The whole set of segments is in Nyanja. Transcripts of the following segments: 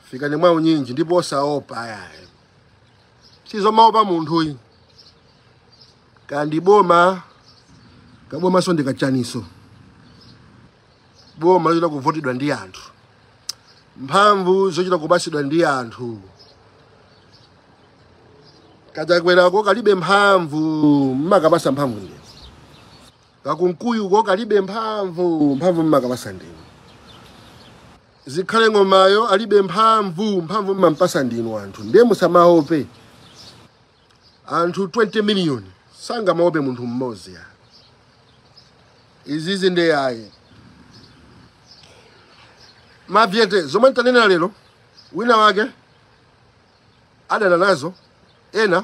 fikani mwa unyinji ndipo osaopa ayayi sizomaopa munthuyi kanali boma kabomaso ndi kachaniso boma lochita kuvotedwa ndi anthu mphamvu zochita kupasidwa ndi anthu kachakwera ko kalibe mphamvu mmakapasa mphamvu ndiye kakunkuyu ko kalibe mphamvu mphamvu mmakapasa ndinu zikhale ng'omayo alibe mphamvu mphamvu mmampasa ndinu anthu ndiye musamaope anthu 20 miliyoni sangamaope munthu mmodzi ya izizi ndi ayi mavete zomwe nditanena lero wina wake adana nazo ena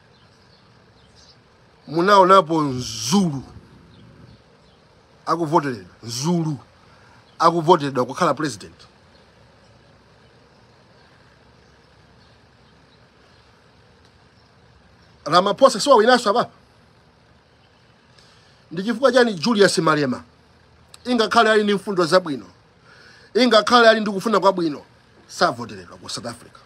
munaonapo mzulu akuvoteredwa mzulu akuvoteredwa kukhala president ramaphosa si wawinanso apa ndi chifukwa chani julius malema ingakhale ali ndi mfundo zabwino ingakhale ali ndi kufuna kwabwino savoteredwa ku south africa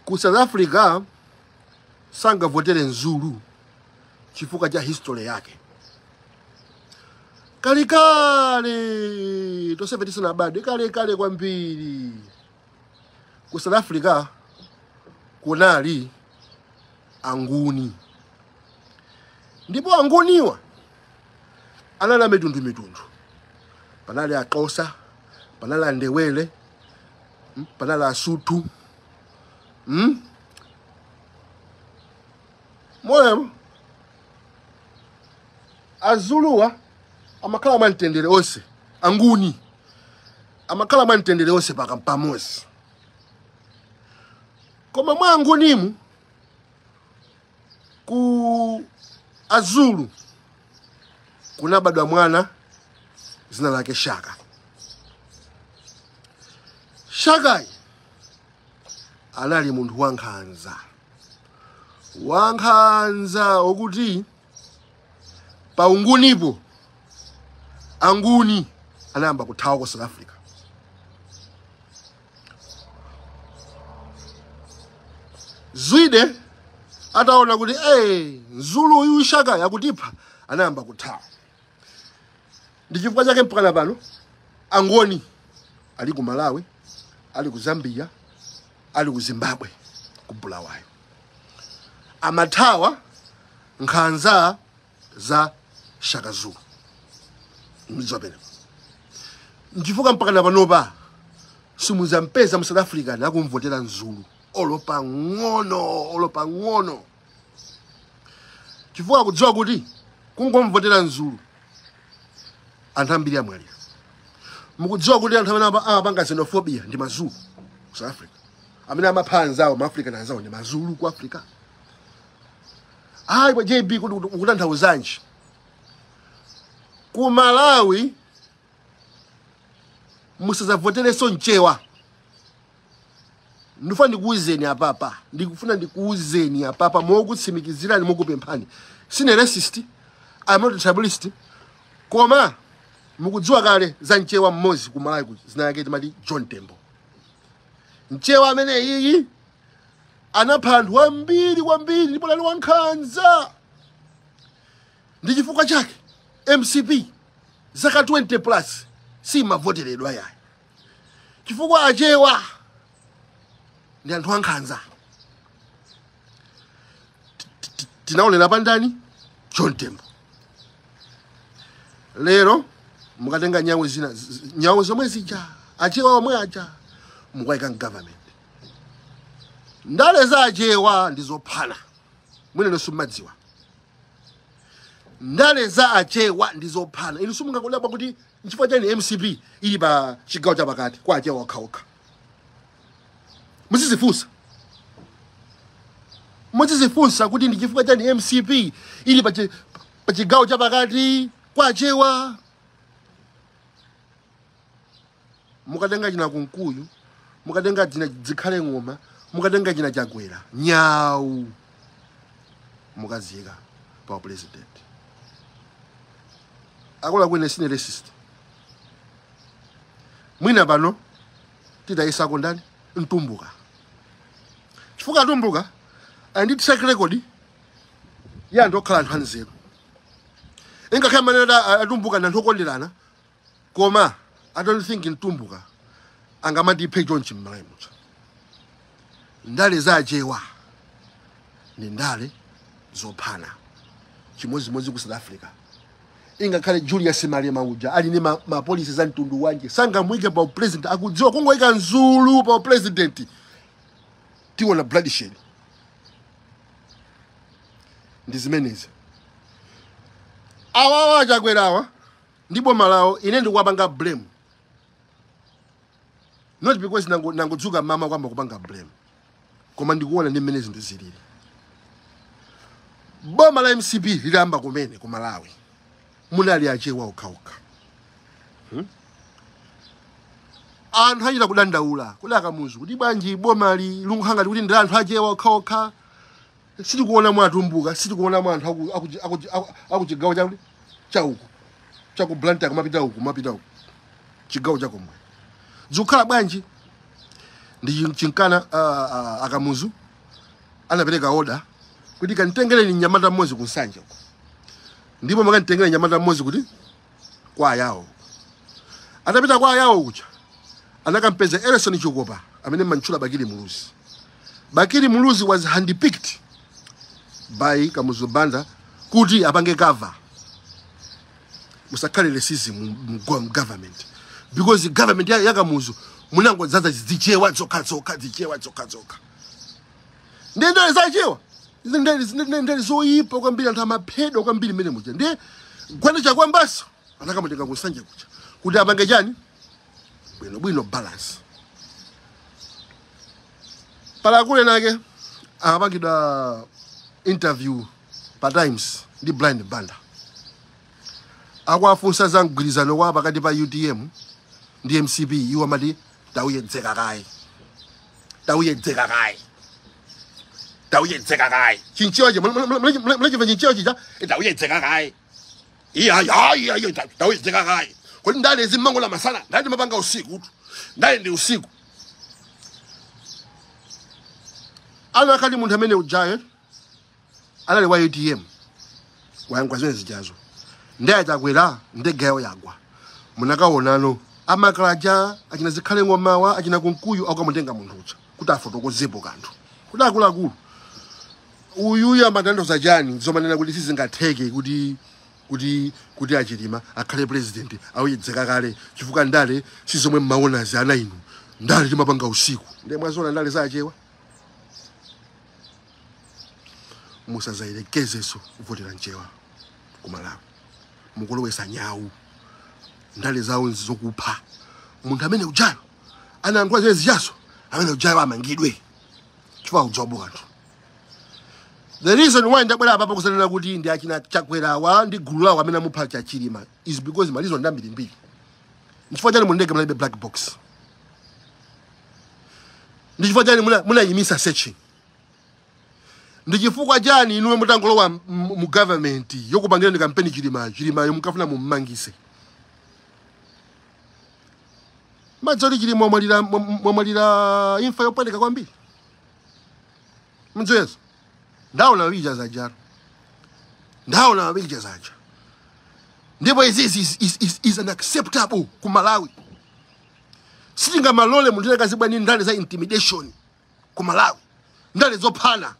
ku south africa sangavotere mzulu chifukwa cha history yake kalekale tosefe tisanabadwe kalekale kwambiri ku south africa kunali anguni ndipo anguniwa anali amitundumitundu panali axosa panali andebele mm, panali asuthu mm? komanso azuluwa amakhala mwamtendere onse anguni amakhala mwamtendere onse paka pamodzi koma mwa angunimu ku azulu kunabadwa mwana zina lake shaka shakayu anali munthu wankhanza wankhanza okuti pa ungunipo anguni anayamba kuthawa ku south africa zwide ataona kuti eh mzulu uyu shaka akutipha anayamba kuthawa ndi chifukwa chake mpakana pano angoni ali ku malawi ali ku zambia ali ku zimbabwe ku bulawayo amathawa nkhanza za shaka zulu mudzi wa pamenepo nchifukwa mpaka na panopa simuzampeza mu south african akuvotera mzulu olo pang'ono olo pang'ono chifukwa akudziwa kuti kungomvotera mzulu anthu ambiri amwalira mukudziwa kuti anthu amene apa- amapanga xenophobia ndi mazulu ku south africa amene amapha anzawo maafrican anzawo ndi mazulu ku africa ayi kwa jb ndikutanthauzanji ku malawi musazavotereso mchewa ndifuna ndikuwuzeni apapa ndikufuna ndikuwuzeni apapa mokutsimikizirani mokupemphani sine racist I'm not a tribalist koma mukudziwa kale za mchewa mmodzi ku malawi zina yake timati john tembo mchewa amene iyi anapha anthu ambiri kwambiri ndipo anali wankhanza ndi chifukwa chake mcp zaka 20 plus simavoteredwa yayi chifukwa achewa ndi anthu ankhanza Ti- ti- tinaonera pa ndani john tembo lero mukatenga nyawu zina z- z- nyawu zomwe zija achewa omwe aja mukaika mgovernment ndale za achewa ndi zophana mwina inu simumadziwa ndale za achewa ndi zophana inu simukudabwa kuti nchifukwa chani mcp ili pa chigawo cha pakati kwa achewa okhaokha muzizifunsa muzizifunsa kuti ndi chifukwa chani mcp ili pa chi- pa chigawo cha pakati kwa achewa mukatenga china kunkuyu mukatenga china zikhale ng'oma mukatenga china chakwera nyawu mukaziyika pa president akola kwene sine racist mwina pano titayisako ndani mtumbuka chifukwa atumbuka ali ndi track record ya anthu okhala anthu anzeru ingakhale mumanena kuti atumbuka ndi anthu okonderana koma i don't think mtumbuka angamatiphe chonchi mmalawi muja ndale za achewa ndi ndale zophana chimodzimodzi ku south africa ingakhale julius malema uja ali ndi ma- mapolisi za mtundu wanji sangamuyike pa upresident akudziwa kungoyika mzulu pa upresident tiona bloodshed ndi zimenezi awawa achakwerawa ndi boma lawo ine ndikuwapanga blame not because nango- nangodzuka mmawa nkuyamba kupanga blame koma ndikuona ndi mmene zinthu zilili boma la mcp likuyamba kumene ku malawi munali achewa okhaokha Hmm? anthu achita kudandaula kwa akamuzu kuti bwanji bomali likukhala ngati kuti ndi la anthu achewa okhaokha sitikuonamo atumbuka sitikuonamo anthu aku- aku- aku- aku- akuchigawo cha cha uku cha ku blantyre kumapita uku kumapita uku chigawo cha kummwera zikukhala bwanji ndi chin- chinkana ah, ah, akamuzu anapereka order kuti kanditengereni mnyamata mmodzi ku nsanje uko ndipo makanditengere mnyamata mmodzi kuti kwa ayawo atapita kwa ayawo kuja anakampeza Elson Chikopa amene mumamutchula Bakili Muluzi Bakili Muluzi was handpicked by Kamuzu Banda kuti apange cover musakhale racism mu- mu go- mu government because government ya, ya Kamuzu munangodzaza zichewa dzokha dzokha zichewa dzokha dzokha ndiye ndale zachewa izi ndale izi ndale- ndale zoyipa kwambiri anthu amaphedwa kwambiri mmene muja ndiye gwanda chakwambaso anakamutenga kunsanje kuja kuti apange chani bwino bwino balance pali mkulu winawake akupangidwa interview pa times ndi brian banda akuwafunsa za mgwirizano wa pakati pa utm ndi mcp iwo amati tauyedzeka kaye tauyedzeka kaye tauyedzeka kaye chichewacho mwachimva chichewa chija tauyedzeka kaye iyayayayo tauyedzeka kaye kodi ndale zimangotha masana ndale timapanga usikutu ndale ndi usiku anali akuti munthu amene ujayo anali wa utm wayankhula zimene zijazo ndiye atakwera ndege yawo yagwa mukanaonano amakalata achina zikhale ng'oma achina kunkuyu akanamutenga munthu uja kuti afotokozepo kanthu kuti akuluakulu uyuyu amatanthauza chani zomanena kuti sizingatheke kuti kuti kuti achilima akhale president auyedzeka kaye chifukwa ndale si zomwe mmaona masana inu ndale timapanga usiku ndiye mwaziona ndale zachewa musazayerekezeso kuvotera mchewa ku malawi mukulowesa nyawu ndale zawo nzizokupha munthu amene ujayo anayankhula zimene zijazo amene ujayo amangidwe chifukwa akudziwapo kanthu the reason why ndabwera apapo kuzanena kuti ndi achina chakwerawa ndi gulu lawo amene amupha achilima is because ma reasons ndi ambirimbiri nchifukwa chani mundege munalibe black box ndi chifukwa chani muna- munayimitsa searching ndi chifukwa chani inuwe mutangolowa m- m- mu government yokupangirani kampeni chilimayo chilimayo munkafuna mummangise madzi oti chilima mwamwalira mwa- mwamwalira imfa yopweteka kwambiri mdzezo ndaona wija zajaro ndaona wija zaja ndipo izi is, is, is, is, is unacceptable ku malawi sitingamalole munthu akazibwera ndi ndale za intimidation ku Malawi ndale zophana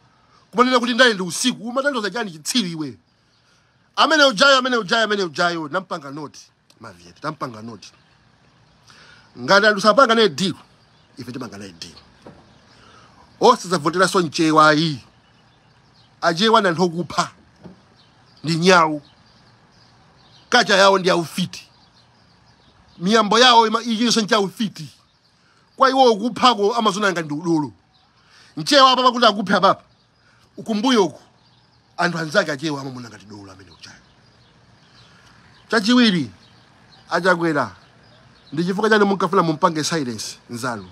kumanena kuti ndale ndi usiku umatanthauza chani chitsiru iwe amene ujayo amene ujayo amene ujayo nampanga note mavieti nampanga note ngati anthu sapanga naye deal ife tipanga naye deal osazavoteranso mchewa ayi achewa ndi anthu okupha ndi nyawu culture yawo ndi aufiti miyambo yawo ima- iyinso nchaufiti kwa iwo kuphako amaziona ngati ndi udolo mchewa apapa kuti akuphe apapa kumbuyoku anthu anzake achewa amamuona ngati dolo amene ujayo chachiwiri achakwera ndi chifukwa chani munkafuna mumpange silence nzanu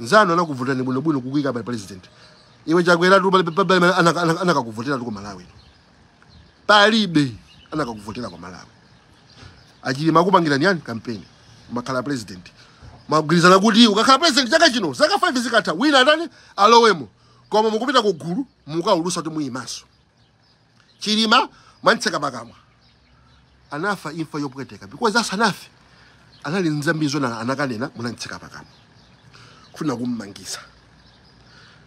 nzanu anakuvotani bwinobwino kukuika pa president iwe chakwera tu pali- pali- pali- anaka- anaka- anakakuvotera tu ku malawi palibe anakakuvotera kwa malawi achilima akupangirani yani kampeni mwakhala president mwagwirizana kuti ukakhala president chaka chino zaka 5 zikatha wina atani alowemo koma mukupita ku gulu mukaulusa kuti muyimanso chilima mwamtseka pakamwa anafa imfa yopweteka because asanafe anali nzambiri zoti anakanena munamtseka pakamwa kufuna kummangisa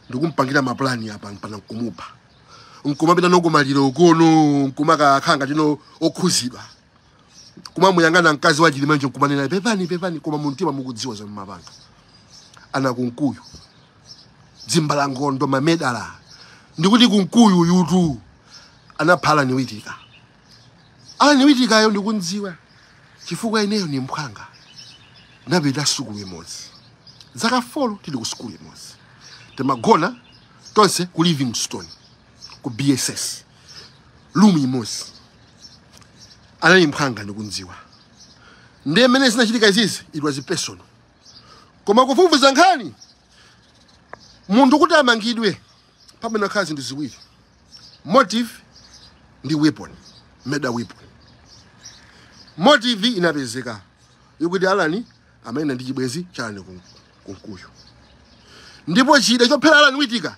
ndikumpangira mapulani apa mpana nkumupha nkumapitano kumaliro kono nkumakakhala ngati no okhuzidwa kumamuyang'ana mkazi wa chilima nkumanena pepani pepani koma mumtima mukudziwa zomwe mwapanga ana kunkuyu dzimbalangondo ma murderer ndikuti kunkuyuyutu anapha alani witika alani witikayo ndikumdziwa chifukwa ineyo ni mphwanga napita sukulu imodzi zaka folo tili ku sukulu imodzi timagona tonse ku livingstone ku bss room imodzi anali mphwanga ndikumdziwa ndiye mmene zinachitika izizi it was personal koma kufufuza nkhani munthu kuti amangidwe pamayenera kukhala zinthu ziwiri motive ndi weapon murder weapon motive inapezeka yokuti alani amayenda ndi chibwenzi cha alani Kun- kunkuyu ndipo chida chophera alani witika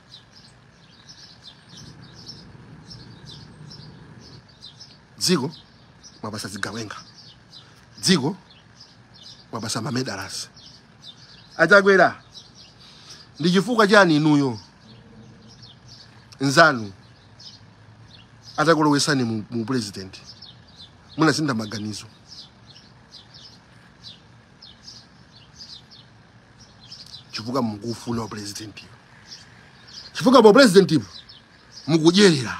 dziko mwapasa zigawenga dziko mwapasa ma murderers achakwera ndi chifukwa chani inuyo nzanu atakulowesani mu, mu president munasintha maganizo chifukwa mukufuna uprezidentiwo chifukwa pa uprezidentipo mukudyerera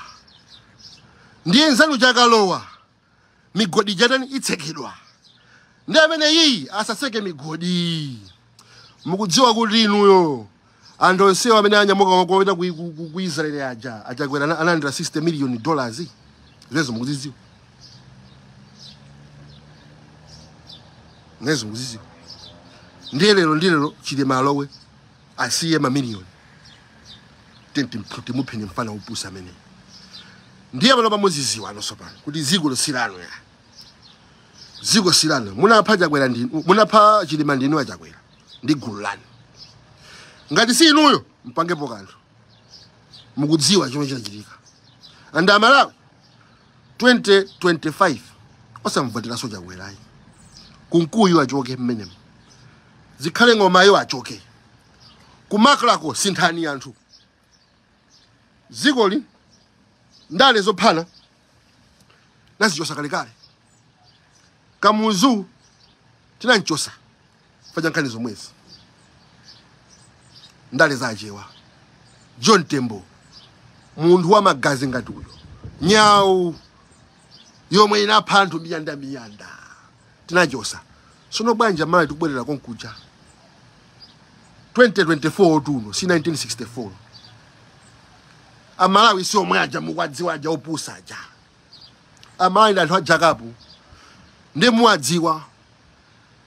ndiye nzanu uja akalowa migodi ija itani itsekedwa ndi amene iyi asaseke migodi mukudziwa kuti inuyo anthu onsewo amene anyamuka kupita ku, ku, ku, ku israeli aja achakwera ana- analandira 60 million dollars zimenezo mukuzidziwa zimenezo mukuzidziwa ndiye lero ndi lero chilima alowe asiye mamiliyoni tenti mputi mupheni mfana opusa ameneyi ndiye pano pamuziziwa anonso pano kuti dziko losilano ya dziko silano munapha chakwera ndinu munapha chilima ndinu achakwera ndi gulu lanu ngati si inuyo mpangepo kanthu mukudziwa chomwe chinachitika and amalawi 2025 osamvoteraso chakwera ayi kunkuyu achoke mmenemo zikhale ng'omayo achoke ku macrako sinthani anthu zikoli ndale zophana tinazichosa kalekale kamuzu tinamchosa chifukwa cha nkhani zomwezi ndale za achewa john tembo munthu wa magazi ngati uyo nyawu yomwe inapha anthu miyanda miyanda tinachosa sono bwanji amalawi tikubwerera konkuja 2024 tuno si 1964 amalawi si omwe aja mukwadziwa aja opusa aja amalawi ndi anthu ajakapu ndi muwadziwa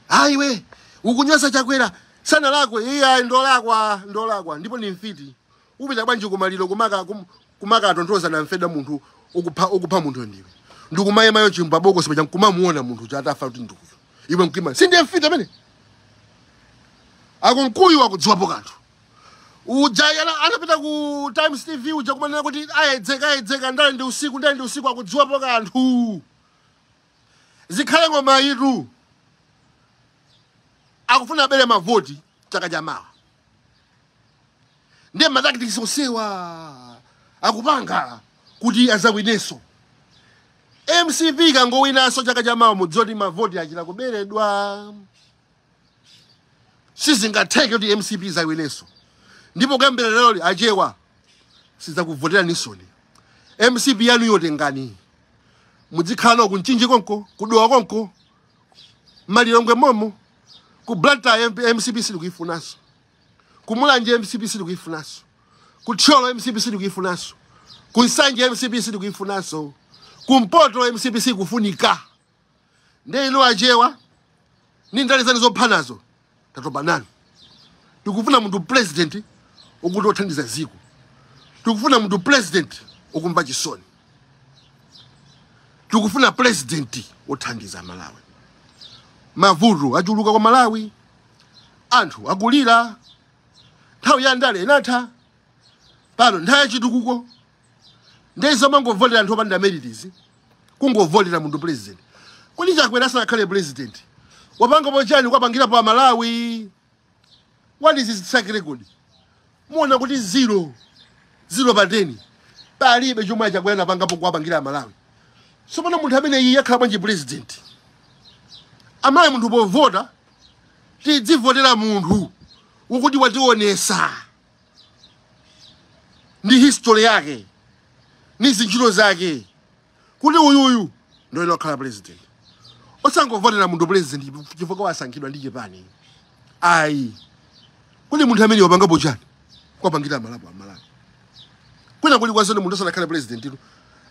ayiwe ukunyoza chakwera sanalakwe iyayi ndolakwa ndolakwa ndipo ni mfiti Upita bwanji kumaliro kumaka kum, kumakatonthoza namfedwa munthu okupha okupha munthu ndiwe. Ndikumayima yo chimba bokosi paja nkumamuona munthu uja atafa kuti ndukuyo. Iwe mkima. Si ndiye mfiti amene. Akunkuyu akudziwapo kanthu. Uja yala anapita ku Times TV uja kumanena kuti ayedzeka ayedzeka ndale ndi usiku ndale ndi usiku akudziwapo kanthu. Zikhale ng'omayitu. Akufuna abere mavoti chaka cha mawa. ndiye matactics onsewa akupanga kuti azawinenso mcp ikangowinanso chaka cha mawa mudziwe kuti mavoti achita kuberedwa sizingatheke kuti mcp izawinenso ndipo kuyambira lero achewa sizakuvotera nisoni mcp yanu yotengani mudzikhala nawo kunchinji konko kudowa konko malilongwe momo ku blantyre mcp sitikuyifunanso Ku Mulanje mcp sitikuifunanso. Ku Thyolo mcp sitikuifunanso. Ku Nsanje mcp sitikuifunanso. Ku Mpoto mcp sikufunika. Ndiye inu achewa ndi ndale zanu zophanazo tatopa nanu. Tikufuna munthu president wokuti othandiza dziko. Tikufuna munthu president okumva chisoni. Tikufuna president othandiza Malawi. Mavuto achuluka kwa aMalawi. anthu akulira nthawi ya ndale inatha pano nthawi ya chitukuko ndiye zomangovotera anthu opanda merits kungovotera munthu president kodi chakwera asanakhale president wapangapo chani kuwapangirapo amalawi what is his track record muona kuti zero zero pa 10 palibe chomwe achakwera anapangapo kuwapangira amalawi sopano munthu ameneyi akhala bwanji president amalawi munthu povota tidzivotera munthu wokuti wationesa ndi history yake ni zintchito zake kuti uyuyu ndi oyenera kukhala president osangovotera munthu president chifukwa wasankhidwa ndi chipani ayi kodi munthu ameneyi wapangapo chani kuwapangirapo amalawi kwina kulikonse munthu asanakhale president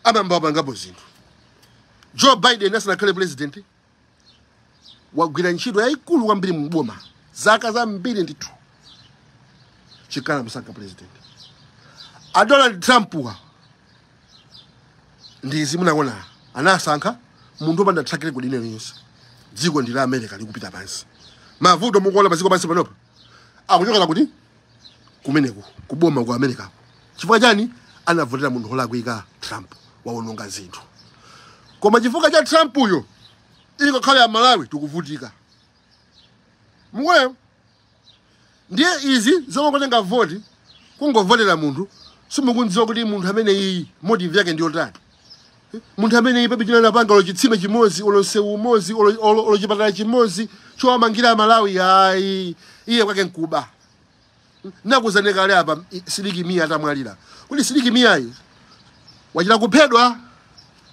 amayamba wapangapo zinthu joe biden asanakhale president wagwira ntchito yayikulu kwambiri mu boma zaka zambiri ndithu asanamusankhe president a donald trump ndi izi munaona anasankha munthu opanda track record iliyonse dziko ndi la america likupita pansi mavuto mukuona padziko pansi panopa akuchokera kuti kumeneko kuboma ku america chifukwa chani anavotera munthu wolakwika trump waononga zinthu koma chifukwa cha trump uyo ngakhale amalawi tikuvutika nkuyeyo ndiye izi zomangotenga voti kungovotera munthu simukumudziwa kuti munthu ameneyi motive yake ndiyotani munthu ameneyi palibe china anapanga olo chitsime chimodzi olo msewu umodzi olo- olo olo chipatala chimodzi chowamangira amalawi ayi iye kwake nkuba ndakuuzani kale apa i- sidiki miya atamwalira kuti sidiki miyayu wachita kuphedwa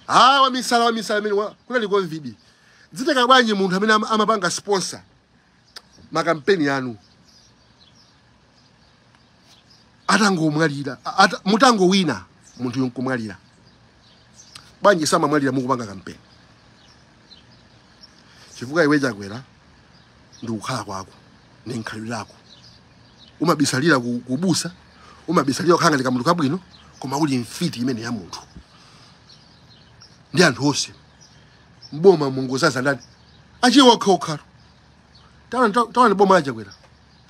ha wamisala wamisala amene wa- kunali covid zitheka bwanji munthu amene ama- amapanga sponsor makampeni anu atangomwalira mutangowina munthuyo nkumwalira bwanji samamwalira mukupanga kampeni chifukwa iwe chakwera ndi kukhala kwako ndi nkhalidwe lako umabisalira kuubusa umabisalira kukhala ngati kamunthu kabwino koma uli mfiti imene ya munthu ndi anthu onse mboma mungozaza ndani Achewa okhaokhatu taonani taw- taonani boma la chakwera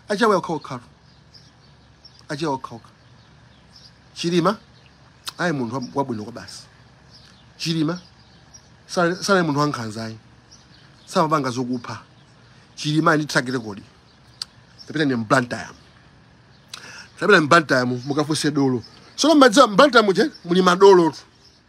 Achewa okhaokhatu Achewa okhaokha chilima ayi munthu wab- wabwino kwa basi chilima sanali munthu wankhanza ayi samapanga zokupha chilima ndi track record tapitani mblantyre tapitani mblantyre mukafunse dolo sono mmadziwa mblantyre muje muli madolotu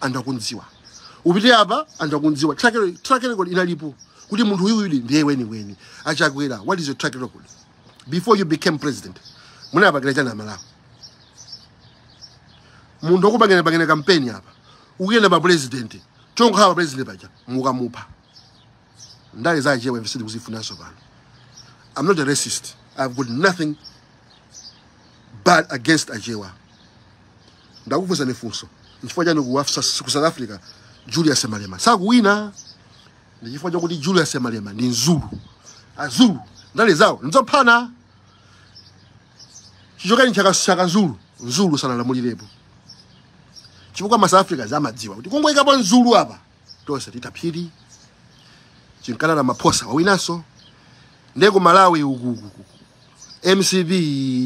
anthu akundziwa upite apa anthu akundziwa track re- track record inalipo kuti munthu uyuyu ndiye weniweni achakwera what is your track record before you became president munapangira chani amalawi munthu okupangirani kampeni apa ukuyenda pa president chonkhala pa president paja mukamupha ndale za achewa ife sindikuzifunanso pano i'm not a racist i've got nothing bad against achewa ndikufunseni funso nchifukwa chani ku south africa julius malema sakuwina ndi chifukwa chakuti julius malema ndi mzulu azulu ndale zawo ndizophana chichokani shaka zulu mzulu sanalamulirepo chifukwa ma south africans amadziwa kuti kungoikapo mzulu apa tonse tithapo fi chinkana na ramaphosa wawinanso nde ku malawi ukukuku mcp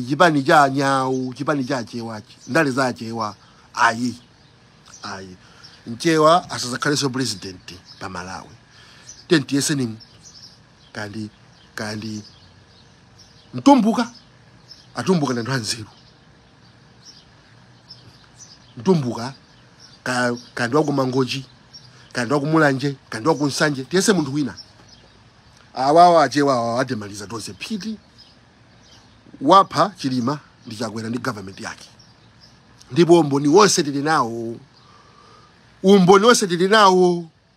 chipani cha anyawu chipani cha achewachi ndale za achewa ayi ayi mchewa asazakhalenso president pa malawi tatiyeseni kaya ndi kaya ndi mtumbuka atumbuka ndi anthu anzeru mtumbuka kaya ndi wakumangochi kaya ndi wakumulanje kaya ndi wakunsanje tiyese munthu wina awawa achewa awawa atimaliza tonse phiti wapha chilima ndi chakwera ndi government yake ndipo umboni wonse tili nawo umboni wonse tili nawo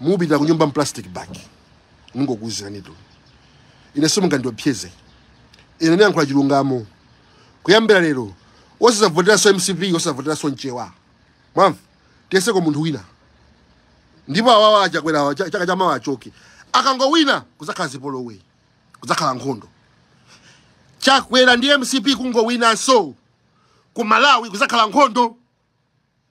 mupita kunyumba mplastic bag ningokuuziranitu ine simungandiopyeze ine ndiyankhula chilungamo kuyambira lero osavoteranso mcp osavoteranso mchewa mwamva tiyeseko munthu wina ndipo awawa achakwerawa cha- chaka chamawa achoke akangowina kuzakhala zipolowe kuzakhala nkhondo chakwera ndi mcp kungowinanso ku malawi kuzakhala nkhondo